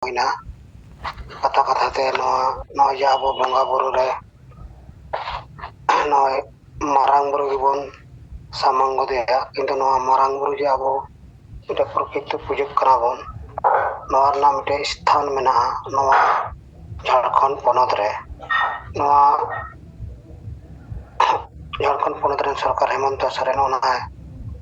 ᱦᱩᱭᱱᱟ ᱠᱟᱛᱷᱟ ᱠᱟᱛᱷᱟ ᱛᱮ ᱱᱚᱣᱟ ᱱᱚᱜᱼᱚᱭ ᱡᱮ ᱟᱵᱚ ᱵᱚᱸᱜᱟ ᱵᱩᱨᱩ ᱨᱮ ᱱᱚᱜᱼᱚᱭ ᱢᱟᱨᱟᱝ ᱵᱩᱨᱩ ᱜᱮᱵᱚᱱ ᱥᱟᱢᱟᱝ ᱜᱚᱫᱮᱭᱟ ᱠᱤᱱᱛᱩ ᱱᱚᱣᱟ ᱢᱟᱨᱟᱝ ᱵᱩᱨᱩ ᱡᱮ ᱟᱵᱚ ᱢᱤᱫᱴᱮᱱ ᱯᱨᱚᱠᱤᱛᱤ ᱯᱩᱡᱟᱹᱜ ᱠᱟᱱᱟ ᱵᱚᱱ ᱱᱚᱣᱟ ᱨᱮᱱᱟᱜ ᱢᱤᱫᱴᱮᱱ ᱥᱛᱷᱟᱱ ᱢᱮᱱᱟᱜᱼᱟ ᱱᱚᱣᱟ ᱡᱷᱟᱲᱠᱷᱚᱸᱰ ᱯᱚᱱᱚᱛ ᱨᱮ ᱱᱚᱣᱟ ᱡᱷᱟᱲᱠᱷᱚᱸᱰ ᱯᱚᱱᱚᱛ ᱨᱮᱱ ᱥᱚᱨᱠᱟᱨ ᱦᱮᱢᱚᱱᱛᱚ ᱥᱚᱨᱮᱱ ᱚᱱᱟᱭ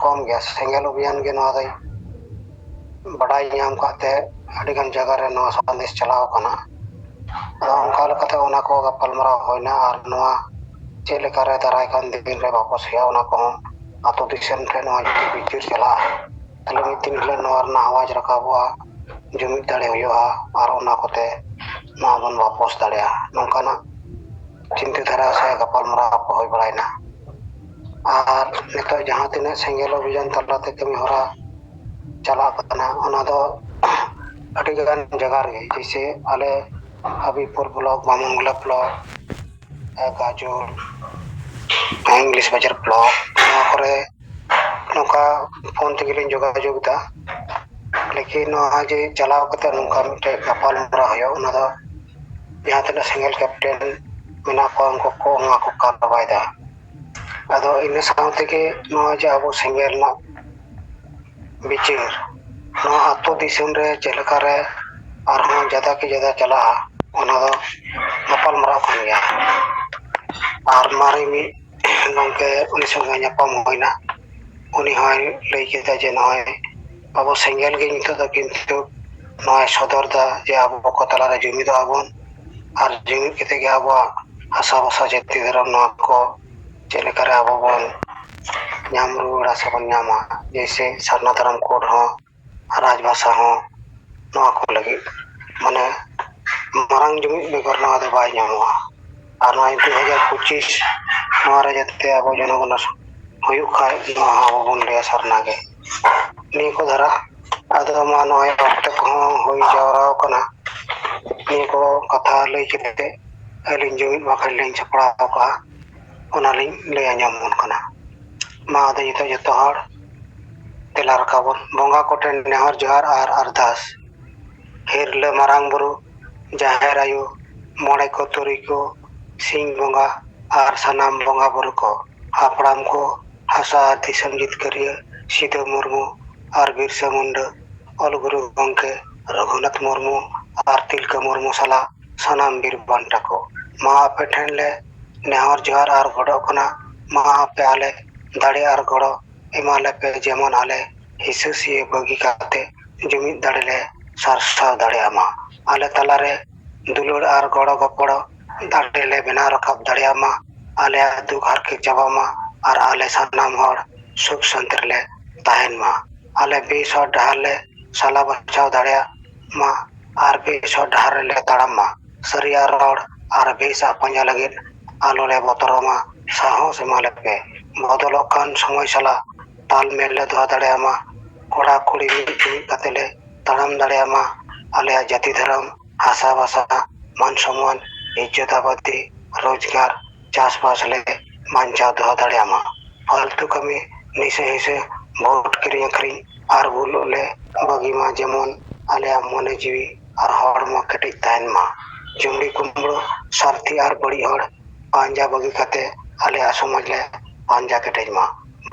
ᱠᱚᱢ ᱜᱮᱭᱟ ᱥᱮᱸᱜᱮᱞ ᱚᱵᱷᱤᱭᱟᱱ ᱜᱮ ᱱᱚᱣᱟ ᱫᱚᱭ ᱵᱟᱰᱟᱭ ᱧᱟᱢ ᱠᱟᱜ ᱛᱮ ᱟᱹᱰᱤ ᱜᱟᱱ ᱡᱟᱭᱜᱟ ᱨᱮ ᱱᱚᱣᱟ ᱥᱟᱸᱫᱮᱥ ᱪᱟᱞᱟᱣ ᱠᱟᱱᱟ ᱟᱫᱚ ᱚᱱᱠᱟ ᱞᱮᱠᱟᱛᱮ ᱚᱱᱟ ᱠᱚ ᱜᱟᱯᱟᱞ ᱢᱟᱨᱟᱣ ᱦᱩᱭᱱᱟ ᱟᱨ ᱱᱚᱣᱟ ᱪᱮᱫ ᱞᱮᱠᱟ ᱨᱮ ᱫᱟᱨᱟᱭ ᱠᱟᱱ ᱫᱤᱱ ᱨᱮ ᱵᱟᱠᱚ ᱥᱮᱭᱟ ᱚᱱᱟ ᱠᱚᱦᱚᱸ ᱟᱛᱳ ᱫᱤᱥᱚᱢ ᱴᱷᱮᱱ ᱱᱚᱣᱟ ᱡᱩᱫᱤ ᱵᱤᱪᱟᱹᱨ ᱪᱟᱞᱟᱜᱼᱟ ᱛᱟᱦᱚᱞᱮ ᱢᱤᱫ ᱫᱤᱱ ᱦᱤᱞᱳᱜ ᱱᱚᱣᱟ ᱨᱮᱱᱟᱜ ᱟᱣᱟᱡᱽ ᱨᱟᱠᱟᱵᱚᱜᱼᱟ ᱡᱩᱢᱤᱫ ᱫᱟᱲᱮ ᱦᱩᱭᱩᱜᱼᱟ ᱟᱨ ᱚᱱᱟ ᱠᱚᱛᱮ ᱱᱚᱣᱟ ᱵᱚᱱ ᱵᱟᱯᱚᱥ ᱫᱟᱲᱮᱭᱟᱜᱼᱟ ᱱᱚᱝᱠᱟᱱᱟᱜ ᱪᱤᱱᱛᱟᱹ ᱫᱷᱟᱨᱟ ᱥᱮ ᱜᱟᱯᱟᱞ ᱢᱟᱨᱟᱣ ᱠᱚ ᱦᱩᱭ ᱵᱟᱲᱟᱭᱮᱱᱟ ᱟᱨ ᱱᱤᱛᱚᱜ ᱡᱟᱦᱟᱸ ᱛᱤᱱᱟᱹᱜ ᱥᱮᱸᱜᱮᱞ ᱚᱵᱷᱤᱡᱟᱱ ᱛᱟᱞᱟᱛᱮ ᱠᱟᱹᱢᱤ ᱦᱚᱨᱟ ᱪᱟᱞᱟᱜ ᱠᱟᱱᱟ ᱚᱱᱟ ᱫᱚ ᱟᱹᱰᱤ ᱞᱮᱠᱟᱱ ᱡᱟᱭᱜᱟ ᱨᱮᱜᱮ ᱡᱮᱭᱥᱮ ᱟᱞᱮ Habibpur block Bamangola block Gazole English Bazar block ᱱᱚᱣᱟ ᱠᱚᱨᱮ ᱱᱚᱝᱠᱟ ᱯᱷᱳᱱ ᱛᱮᱜᱮ ᱞᱤᱧ ᱡᱳᱜᱟᱡᱳᱜᱽ ᱮᱫᱟ ᱞᱮᱠᱤᱱ ᱱᱚᱣᱟ ᱡᱮ ᱪᱟᱞᱟᱣ ᱠᱟᱛᱮ ᱱᱚᱝᱠᱟ ᱢᱤᱫᱴᱮᱡ ᱜᱟᱯᱟᱞᱢᱟᱨᱟᱣ ᱦᱩᱭᱩᱜᱼᱟ ᱚᱱᱟ ᱫᱚ ᱡᱟᱦᱟᱸ ᱛᱤᱱᱟᱹᱜ ᱥᱤᱝᱜᱮᱞ ᱠᱮᱯᱴᱮᱱ ᱢᱮᱱᱟᱜ ᱠᱚᱣᱟ ᱩᱱᱠᱩ ᱠᱚ ᱚᱱᱟ ᱠᱚ ᱠᱟᱯ ᱪᱟᱵᱟᱭ ᱫᱟ ᱟᱫᱚ ᱤᱱᱟᱹ ᱥᱟᱶ ᱛᱮᱜᱮ ᱱᱚᱜᱼᱚᱭ ᱡᱮ ᱟᱵᱚ ᱥᱤᱸᱜᱮ ᱨᱮᱱᱟᱜ ᱵᱤᱪᱟᱹᱨ ᱱᱚᱣᱟ ᱟᱹᱛᱩ ᱫᱤᱥᱚᱢ ᱨᱮ ᱪᱮᱫ ᱞᱮᱠᱟ ᱨᱮ ᱟᱨᱦᱚᱸ ᱡᱟᱫᱟ ᱠᱮ ᱡᱟᱫᱟ ᱪᱟᱞᱟᱜᱼᱟ ᱚᱱᱟ ᱫᱚ ᱜᱟᱯᱟᱞ ᱢᱟᱨᱟᱣ ᱠᱟᱱ ᱜᱮᱭᱟ ᱟᱨ ᱢᱟᱨᱮ ᱢᱤᱫ ᱜᱚᱝᱠᱮ ᱩᱱᱤ ᱥᱚᱸᱜᱮ ᱧᱟᱯᱟᱢ ᱦᱩᱭᱱᱟ ᱩᱱᱤ ᱦᱚᱸᱭ ᱞᱟᱹᱭ ᱠᱮᱫᱟ ᱡᱮ ᱱᱚᱜᱼᱚᱭ ᱟᱵᱚ ᱥᱮᱸᱜᱮᱞ ᱜᱮ ᱱᱤᱛᱚᱜ ᱫᱚ ᱠᱤᱱᱛᱩ ᱱᱚᱣᱟᱭ ᱥᱚᱫᱚᱨ ᱫᱟ ᱡᱮ ᱟᱵᱚ ᱠᱚ ᱛᱟᱞᱟᱨᱮ ᱡᱩᱢᱤᱫᱚᱜ ᱟᱵᱚᱱ ᱟᱨ ᱡᱩᱢᱤᱫ ᱠᱟᱛᱮ ᱜᱮ ᱟᱵᱚᱣᱟᱜ ᱦᱟᱥᱟ ᱵᱷᱟᱥᱟ ᱡᱟᱹᱛᱤ ᱫᱷᱚᱨᱚᱢ ᱱᱚᱣᱟ ᱠᱚ ᱪᱮᱫ ᱞᱮᱠᱟᱨᱮ ᱟᱵᱚ ᱵᱚᱱ ᱧᱟᱢ ᱨᱩᱣᱟᱹᱲᱟ ᱥᱮᱵᱚᱱ ᱧᱟᱢᱟ ᱡᱮᱭᱥᱮ ᱥᱟᱨᱱᱟ ᱫᱷᱚᱨᱚᱢ ᱠᱳᱰ ᱦᱚᱸ ᱨᱟᱡᱽ ᱵᱷᱟᱥᱟ ᱦᱚᱸ ᱱᱚᱣᱟ ᱠᱚ ᱞᱟᱹᱜᱤᱫ ᱢᱟᱱᱮ ᱢᱟᱨᱟᱝ ᱡᱩᱢᱤᱫ ᱵᱮᱜᱚᱨ ᱱᱚᱣᱟ ᱫᱚ ᱵᱟᱭ ᱧᱟᱢᱚᱜᱼᱟ ᱟᱨ ᱱᱚᱣᱟ ᱫᱩ ᱦᱟᱡᱟᱨ ᱯᱚᱸᱪᱤᱥ ᱱᱚᱣᱟ ᱨᱮ ᱡᱟᱛᱮ ᱟᱵᱚ ᱡᱚᱱᱚᱜᱚᱱᱚ ᱦᱩᱭᱩᱜ ᱠᱷᱟᱡ ᱱᱚᱣᱟ ᱦᱚᱸ ᱟᱵᱚ ᱵᱚᱱ ᱞᱟᱹᱭᱟ ᱥᱟᱨᱱᱟ ᱜᱮ ᱱᱤᱭᱟᱹ ᱠᱚ ᱫᱷᱟᱨᱟ ᱟᱫᱚ ᱢᱟ ᱱᱚᱜᱼᱚᱭ ᱚᱠᱛᱚ ᱠᱚᱦᱚᱸ ᱦᱩᱭ ᱡᱟᱣᱨᱟ ᱟᱠᱟᱱᱟ ᱱᱤᱭᱟᱹ ᱠᱚ ᱠᱟᱛᱷᱟ ᱞᱟᱹᱭ ᱠᱮᱫ ᱛᱮ ᱟᱹᱞᱤᱧ ᱡᱩᱢᱤᱫ ᱵᱟᱠᱷᱮᱬ ᱞᱤᱧ ᱥᱟᱯᱲᱟᱣ ᱟᱠᱟᱜᱼᱟ ᱚᱱᱟᱞᱤᱧ ᱞᱟᱹᱭ ᱟᱸᱡᱚᱢ ᱟᱵᱚᱱ ᱠᱟᱱᱟ ᱢᱟ ᱟᱫᱚ ᱱᱤᱛᱚᱜ ᱡᱚᱛᱚ ᱦᱚᱲ ᱫᱮᱞᱟ ᱨᱟᱠᱟᱵᱚᱱ ᱵᱚᱸᱜᱟ ᱠᱚᱴᱷᱮᱱ ᱱᱮᱦᱚᱨ ᱡᱚᱦᱟᱨ ᱟᱨ ᱟᱨᱫᱟᱥ ᱦᱤᱨᱞᱟᱹ ᱢᱟᱨᱟᱝ ᱵᱩᱨᱩ ᱡᱟᱦᱮᱨ ᱟᱭᱳ ᱢᱚᱬᱮ ᱠᱚ ᱛᱩᱨᱩᱭ ᱠᱚ ᱥᱤᱧ ᱵᱚᱸᱜᱟ ᱟᱨ ᱥᱟᱱᱟᱢ ᱵᱚᱸᱜᱟ ᱵᱩᱨᱩ ᱠᱚ ᱦᱟᱯᱲᱟᱢ ᱠᱚ ᱦᱟᱥᱟ ᱟᱨ ᱫᱤᱥᱚᱢ ᱡᱤᱛᱠᱟᱹᱨᱤᱭᱟᱹ ᱥᱤᱫᱟᱹ ᱢᱩᱨᱢᱩ ᱟᱨ ᱵᱤᱨᱥᱟᱹ ᱢᱩᱱᱰᱟᱹ ᱚᱞ ᱜᱩᱨᱩ ᱜᱚᱢᱠᱮ ᱨᱚᱜᱷᱩᱱᱟᱛᱷ ᱢᱩᱨᱢᱩ ᱟᱨ ᱛᱤᱞᱠᱟᱹ ᱢᱩᱨᱢᱩ ᱥᱟᱞᱟᱜ ᱥᱟᱱᱟᱢ ᱵᱤᱨ ᱵᱟᱱᱴᱟ ᱠᱚ ᱢᱟ ᱟᱯᱮ ᱴᱷᱮᱱ ᱞᱮ ᱱᱮᱦᱚᱨ ᱡᱚᱦᱟᱨ ᱟᱨ ᱜᱚᱰᱚᱜ ᱠᱟᱱᱟ ᱢᱟ ᱟᱯᱮ ᱟᱞᱮ ᱫᱟᱲᱮ ᱟᱨ ᱜᱚᱲᱚ ᱮᱢᱟ ᱞᱮᱯᱮ ᱡᱮᱢᱚᱱ ᱟᱞᱮ ᱦᱤᱥᱟᱹᱥᱤᱭᱟᱹ ᱵᱟᱹᱜᱤ ᱠᱟᱛᱮ ᱡᱩᱢᱤᱫ ᱫᱟᱲᱮ ᱞᱮ ᱥᱟᱨᱥᱟᱣ ᱫᱟᱲᱮᱭᱟᱜ ᱢᱟ ᱟᱞᱮ ᱛᱟᱞᱟᱨᱮ ᱫᱩᱞᱟᱹᱲ ᱟᱨ ᱜᱚᱲᱚ ᱜᱚᱯᱚᱲᱚ ᱫᱟᱲᱮ ᱞᱮ ᱵᱮᱱᱟᱣ ᱨᱟᱠᱟᱵ ᱫᱟᱲᱮᱭᱟᱜ ᱢᱟ ᱟᱞᱮᱭᱟᱜ ᱫᱩᱠ ᱦᱟᱨᱠᱮᱛ ᱪᱟᱵᱟᱜ ᱢᱟ ᱟᱨ ᱟᱞᱮ ᱥᱟᱱᱟᱢ ᱦᱚᱲ ᱥᱩᱠ ᱥᱟᱱᱛᱤ ᱨᱮᱞᱮ ᱛᱟᱦᱮᱱ ᱢᱟ ᱟᱞᱮ ᱵᱮᱥ ᱦᱚᱨ ᱰᱟᱦᱟᱨ ᱞᱮ ᱥᱟᱞᱟ ᱵᱟᱪᱷᱟᱣ ᱫᱟᱲᱮᱭᱟᱜ ᱢᱟ ᱟᱨ ᱵᱮᱥ ᱦᱚᱨ ᱰᱟᱦᱟᱨ ᱨᱮᱞᱮ ᱛᱟᱲᱟᱢ ᱢᱟ ᱥᱟᱹᱨᱤᱭᱟᱜ ᱨᱚᱲ ᱟᱨ ᱵᱮᱥᱟᱜ ᱯᱟᱸᱡᱟ ᱞᱟᱹᱜᱤᱫ ᱟᱞᱚ ᱞᱮ ᱵᱚᱛᱚᱨᱚᱜ ᱢᱟ ᱥᱟᱦᱚᱥ ᱮᱢᱟ ᱞᱮ ᱯᱮ ᱵᱚᱫᱚᱞᱚᱜ ᱠᱟᱱ ᱥᱚᱢᱚᱭ ᱥᱟᱞᱟᱜ ᱛᱟᱞ ᱢᱮᱞ ᱞᱮ ᱫᱚᱦᱚ ᱫᱟᱲᱮᱭᱟᱜ ᱢᱟ ᱠᱚᱲᱟ ᱠᱩᱲᱤ ᱢᱤᱫ ᱡᱩᱢᱤᱫ ᱠᱟᱛᱮ ᱞᱮ ᱛᱟᱲᱟᱢ ᱫᱟᱲᱮᱭᱟᱜ ᱢᱟ ᱟᱞᱮᱭᱟᱜ ᱡᱟᱹᱛᱤ ᱫᱷᱚᱨᱚᱢ ᱦᱟᱥᱟ ᱵᱷᱟᱥᱟ ᱢᱟᱱ ᱥᱚᱢᱟᱱ ᱤᱡᱡᱚᱛ ᱟᱵᱟᱫᱤ ᱨᱳᱡᱽᱜᱟᱨ ᱪᱟᱥᱵᱟᱥ ᱞᱮ ᱵᱟᱧᱪᱟᱣ ᱫᱚᱦᱚ ᱫᱟᱲᱮᱭᱟᱜ ᱢᱟ ᱯᱷᱟᱞᱛᱩ ᱠᱟᱹᱢᱤ ᱱᱤᱥᱟᱹ ᱦᱤᱥᱟᱹ ᱵᱷᱳᱴ ᱠᱤᱨᱤᱧ ᱟᱹᱠᱷᱨᱤᱧ ᱟᱨ ᱵᱩᱞᱩᱜ ᱞᱮ ᱵᱟᱹᱜᱤ ᱢᱟ ᱡᱮᱢᱚᱱ ᱟᱞᱮᱭᱟᱜ ᱢᱚᱱᱮ ᱡᱤᱣᱤ ᱟᱨ ᱦᱚᱲᱢᱚ ᱠᱮᱴᱮᱡ ᱛᱟᱦᱮᱱ ᱢᱟ ᱡᱩᱢᱲᱤ ᱠᱩᱢᱲᱩ ᱥᱟᱨᱛᱷᱤ ᱟᱨ ᱵᱟᱹᱲᱤᱡ ᱦᱚᱲ ᱯᱟᱸᱡᱟ ᱵᱟᱹᱜᱤ ᱠᱟᱛᱮ ᱟᱞᱮᱭᱟᱜ ᱥᱚᱢᱟᱡᱽ ᱞᱮ ᱯᱟᱸᱡᱟ ᱠᱮᱴᱮᱡ ᱢᱟ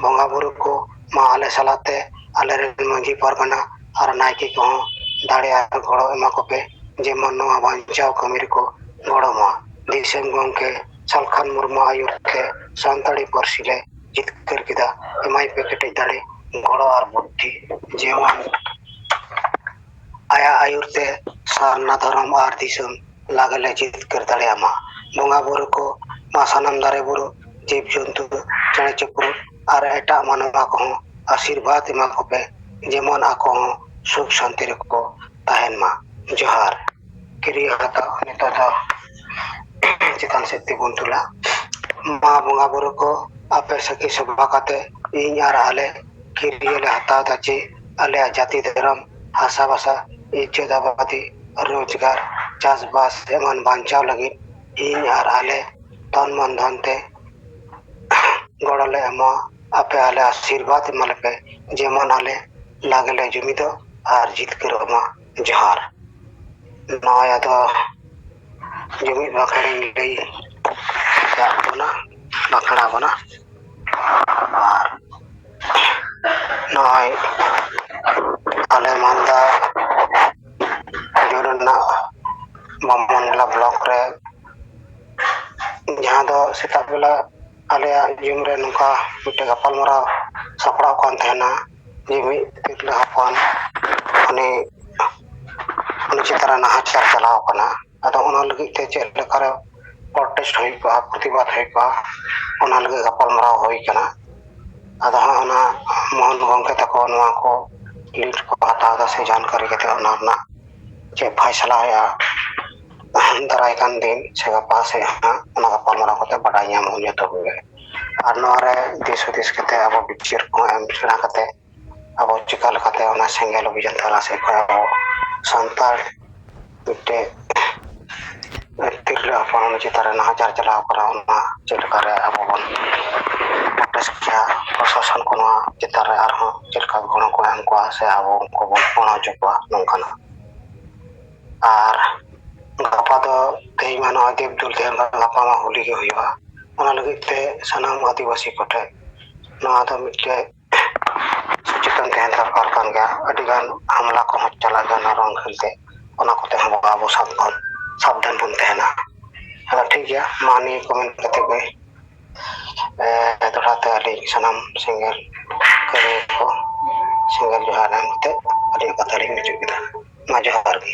ᱵᱚᱸᱜᱟ ᱵᱩᱨᱩ ᱠᱚ ᱢᱟ ᱟᱞᱮ ᱥᱟᱞᱟᱜ ᱛᱮ ᱟᱞᱮ ᱨᱮᱱ ᱢᱟᱺᱡᱷᱤ ᱯᱟᱨᱜᱟᱱᱟ ᱟᱨ ᱱᱟᱭᱠᱮ ᱠᱚᱦᱚᱸ ᱫᱟᱲᱮ ᱟᱨ ᱜᱚᱲᱚ ᱮᱢᱟ ᱠᱚᱯᱮ ᱡᱮᱢᱚᱱ ᱱᱚᱣᱟ ᱵᱟᱧᱪᱟᱣ ᱠᱟᱹᱢᱤ ᱨᱮᱠᱚ ᱜᱚᱲᱚ ᱢᱟ ᱫᱤᱥᱚᱢ ᱜᱚᱢᱠᱮ ᱥᱟᱞᱠᱷᱟᱱ ᱢᱩᱨᱢᱩ ᱟᱹᱭᱩᱨ ᱛᱮ ᱥᱟᱱᱛᱟᱲᱤ ᱯᱟᱹᱨᱥᱤ ᱞᱮ ᱡᱤᱛᱠᱟᱹᱨ ᱠᱮᱫᱟ ᱮᱢᱟᱭ ᱯᱮ ᱠᱮᱴᱮᱡ ᱫᱟᱲᱮ ᱜᱚᱲᱚ ᱟᱨ ᱵᱩᱫᱽᱫᱷᱤ ᱡᱮᱢᱚᱱ ᱟᱭᱟᱜ ᱟᱹᱭᱩᱨ ᱛᱮ ᱥᱟᱨᱱᱟ ᱫᱷᱚᱨᱚᱢ ᱟᱨ ᱫᱤᱥᱚᱢ ᱞᱟᱜᱽᱞᱮ ᱡᱤᱛᱠᱟᱹᱨ ᱫᱟᱲᱮᱭᱟᱜ ᱢᱟ ᱵᱚᱸᱜᱟ ᱵᱩᱨᱩ ᱠᱚ ᱱᱚᱣᱟ ᱥᱟᱱᱟᱢ ᱫᱟᱨᱮ ᱵᱩᱨᱩ ᱡᱤᱵ ᱡᱚᱱᱛᱩ ᱠᱚ ᱪᱮᱬᱮ ᱪᱤᱯᱨᱩ ᱟᱨ ᱮᱴᱟᱜ ᱢᱟᱱᱣᱟ ᱠᱚᱦᱚᱸ ᱟᱥᱤᱨᱵᱟᱫᱽ ᱮᱢᱟ ᱠᱚᱯᱮ ᱡᱮᱢᱚᱱ ᱟᱠᱚ ᱦᱚᱸ ᱥᱩᱠ ᱥᱟᱱᱛᱤ ᱨᱮᱠᱚ ᱛᱟᱦᱮᱱ ᱢᱟ ᱡᱚᱦᱟᱨ ᱠᱤᱨᱤᱭᱟᱹ ᱦᱟᱛᱟᱣ ᱱᱤᱛᱚᱜ ᱫᱚ ᱪᱮᱛᱟᱱ ᱥᱮᱫ ᱛᱤ ᱵᱚᱱ ᱫᱩᱞᱟ ᱢᱟ ᱵᱚᱸᱜᱟ ᱵᱩᱨᱩ ᱠᱚ ᱟᱯᱮ ᱥᱟᱹᱠᱷᱤ ᱥᱚᱵᱷᱟ ᱠᱟᱛᱮ ᱤᱧ ᱟᱨ ᱟᱞᱮ ᱠᱤᱨᱭᱟᱹ ᱞᱮ ᱦᱟᱛᱟᱣ ᱫᱟ ᱪᱮ ᱟᱞᱮᱭᱟᱜ ᱡᱟᱹᱛᱤ ᱫᱷᱚᱨᱚᱢ ᱦᱟᱥᱟ ᱵᱷᱟᱥᱟ ᱤᱡᱡᱚᱛ ᱟᱵᱟᱫᱤ ᱨᱳᱡᱽᱜᱟᱨ ᱪᱟᱥᱵᱟᱥ ᱮᱢᱟᱱ ᱵᱟᱧᱪᱟᱣ ᱞᱟᱹᱜᱤᱫ ᱤᱧ ᱟᱨ ᱟᱞᱮ ᱛᱚᱱ ᱢᱚᱱ ᱫᱷᱚᱱ ᱛᱮ ᱜᱚᱲᱚ ᱞᱮ ᱮᱢᱚᱜᱼᱟ ᱟᱯᱮ ᱟᱞᱮ ᱟᱥᱤᱨᱵᱟᱫᱽ ᱮᱢᱟ ᱞᱮᱯᱮ ᱡᱮᱢᱚᱱ ᱟᱞᱮ ᱞᱟᱜᱽ ᱞᱮ ᱡᱩᱢᱤᱫᱚᱜ ᱟᱨ ᱡᱤᱛᱠᱟᱹᱨᱚᱜ ᱢᱟ ᱡᱚᱦᱟᱨ ᱱᱚᱜᱼᱚᱭ ᱟᱫᱚ ᱡᱩᱢᱤᱫ ᱵᱟᱠᱷᱨᱟᱧ ᱞᱟᱹᱭ ᱟᱠᱟᱫ ᱵᱚᱱᱟ ᱵᱟᱠᱷᱨᱟ ᱵᱚᱱᱟ ᱟᱨ ᱱᱚᱜᱼᱚᱭ ᱟᱞᱮ ᱢᱟᱞᱫᱟ ᱡᱩᱱ ᱨᱮᱱᱟᱜ ᱵᱟᱢᱚᱱ ᱡᱚᱞᱟ ᱵᱞᱚᱠ ᱨᱮ ᱡᱟᱦᱟᱸ ᱫᱚ ᱥᱮᱛᱟᱜ ᱵᱮᱞᱟ ᱟᱞᱮᱭᱟᱜ ᱡᱩᱱ ᱨᱮ ᱱᱚᱝᱠᱟ ᱢᱤᱫᱴᱮᱡ ᱜᱟᱯᱟᱞᱢᱟᱨᱟᱣ ᱥᱟᱯᱲᱟᱣ ᱠᱟᱱ ᱛᱟᱦᱮᱱᱟ ᱡᱮ ᱢᱤᱫ ᱛᱤᱨᱞᱟᱹ ᱦᱚᱯᱚᱱ ᱩᱱᱤ ᱩᱱᱤ ᱪᱮᱛᱟᱱ ᱨᱮ ᱱᱟᱦᱟᱪᱟᱨ ᱪᱟᱞᱟᱣ ᱠᱟᱱᱟ ᱟᱫᱚ ᱚᱱᱟ ᱞᱟᱹᱜᱤᱫ ᱛᱮ ᱪᱮᱫ ᱞᱮᱠᱟᱨᱮ ᱯᱨᱚᱴᱮᱥᱴ ᱦᱩᱭ ᱠᱚᱜᱼᱟ ᱯᱨᱚᱛᱤᱵᱟᱫ ᱦᱩᱭ ᱠᱚᱜᱼᱟ ᱚᱱᱟ ᱞᱟᱹᱜᱤᱫ ᱜᱟᱯᱟᱞᱢᱟᱨᱟᱣ ᱦᱩᱭ ᱠᱟᱱᱟ ᱟᱫᱚ ᱦᱟᱸᱜ ᱚᱱᱟ ᱢᱚᱦᱚᱱ ᱜᱚᱝᱠᱮ ᱛᱟᱠᱚ ᱱᱚᱣᱟ ᱠᱚ ᱞᱤᱰ ᱠᱚ ᱦᱟᱛᱟᱣ ᱫᱟ ᱥᱮ ᱡᱟᱱᱠᱟᱨᱤ ᱠᱟᱛᱮ ᱚᱱᱟ ᱨᱮᱱᱟᱜ ᱪᱮᱫ ᱯᱷᱟᱭᱥᱟᱞᱟ ᱦᱩᱭᱩᱜᱼᱟ ᱫᱟᱨᱟᱭ ᱠᱟᱱ ᱫᱤᱱ ᱥᱮ ᱜᱟᱯᱟ ᱥᱮᱫ ᱦᱟᱸᱜ ᱚᱱᱟ ᱜᱟᱯᱟᱞᱢᱟᱨᱟᱣ ᱠᱟᱛᱮ ᱵᱟᱰᱟᱭ ᱧᱟᱢ ᱦᱩᱭᱩᱜ ᱛᱟᱵᱚᱱᱟ ᱟᱨ ᱱᱚᱣᱟ ᱨᱮ ᱫᱤᱥ ᱦᱩᱫᱤᱥ ᱠᱟᱛᱮ ᱟᱵᱚ ᱵᱤᱪᱟᱹᱨ ᱠᱚ ᱮᱢ ᱥᱮᱬᱟ ᱠᱟᱛᱮ ᱟᱵᱚ ᱪᱤᱠᱟ ᱞᱮᱠᱟᱛᱮ ᱚᱱᱟ ᱥᱮᱸᱜᱮᱞ ᱚᱵᱷᱤᱡᱟᱱ ᱛᱟᱞᱟ ᱥᱮᱫ ᱠᱷᱚᱱ ᱟᱵᱚ ᱥᱟᱱᱛᱟᱲ ᱢᱤᱫᱴᱮᱡ ᱛᱤᱨᱞᱟᱹ ᱦᱚᱯᱚᱱ ᱩᱱᱤ ᱪᱮᱛᱟᱱ ᱨᱮ ᱱᱟᱦᱟᱪᱟᱨ ᱪᱟᱞᱟᱣ ᱠᱟᱱᱟ ᱚᱱᱟ ᱪᱮᱫ ᱞᱮᱠᱟ ᱨᱮ ᱟᱵᱚ ᱵᱚᱱ ᱯᱨᱚᱥᱟᱥᱚᱱ ᱠᱚ ᱱᱚᱣᱟ ᱪᱮᱛᱟᱱ ᱨᱮ ᱟᱨᱦᱚᱸ ᱪᱮᱫ ᱞᱮᱠᱟ ᱜᱚᱲᱚ ᱠᱚ ᱮᱢ ᱠᱚᱣᱟ ᱥᱮ ᱟᱵᱚ ᱩᱱᱠᱩ ᱵᱚᱱ ᱜᱚᱲᱚ ᱦᱚᱪᱚ ᱠᱚᱣᱟ ᱱᱚᱝᱠᱟᱱᱟᱜ ᱟᱨ ᱜᱟᱯᱟ ᱫᱚ ᱛᱮᱦᱮᱧ ᱢᱟ ᱱᱚᱜᱼᱚᱭ ᱫᱮᱵ ᱫᱩᱞ ᱛᱮᱦᱮᱱ ᱫᱚ ᱜᱟᱯᱟ ᱢᱟ ᱦᱳᱞᱤ ᱜᱮ ᱦᱩᱭᱩᱜᱼᱟ ᱚᱱᱟ ᱞᱟᱹᱜᱤᱫ ᱛᱮ ᱥᱟᱱᱟᱢ ᱟᱹᱫᱤᱵᱟᱹᱥᱤ ᱠᱚᱴᱷᱮᱱ ᱱᱚᱣᱟ ᱫᱚ ᱢᱤᱫᱴᱮᱡ ᱥᱚᱪᱮᱛᱚᱱ ᱛᱟᱦᱮᱱ ᱫᱚᱨᱠᱟᱨ ᱠᱟᱱ ᱜᱮᱭᱟ ᱟᱹᱰᱤ ᱜᱟᱱ ᱦᱟᱢᱞᱟ ᱠᱚᱦᱚᱸ ᱪᱟᱞᱟᱜ ᱜᱮᱭᱟ ᱱᱚᱣᱟ ᱨᱚᱝ ᱠᱷᱟᱹᱞ ᱛᱮ ᱚᱱᱟ ᱠᱚᱛᱮ ᱦᱚᱸ ᱟᱵᱚ ᱥᱟᱵᱫᱷᱟᱱ ᱥᱟᱵᱫᱷᱟᱱ ᱵᱚᱱ ᱛᱟᱦᱮᱱᱟ ᱦᱮᱸ ᱴᱷᱤᱠ ᱜᱮᱭᱟ ᱢᱟ ᱱᱤᱭᱟᱹ ᱠᱚ ᱢᱮᱱ ᱠᱟᱛᱮ ᱜᱮ ᱮᱸ ᱫᱚᱲᱦᱟ ᱛᱮ ᱟᱹᱰᱤ ᱥᱟᱱᱟᱢ ᱥᱤᱸᱜᱟᱨ ᱠᱟᱹᱢᱤᱭᱟ ᱠᱚ ᱥᱤᱸᱜᱟᱨ ᱡᱚᱦᱟᱨ ᱮᱢ ᱠᱟᱛᱮᱫ ᱟᱹᱞᱤᱧᱟᱜ ᱠᱟᱛᱷᱟ ᱞᱤᱧ ᱢᱩᱪᱟᱹᱫ ᱠᱮᱫᱟ ᱢᱟ ᱡᱚᱦᱟᱨ ᱜᱮ᱾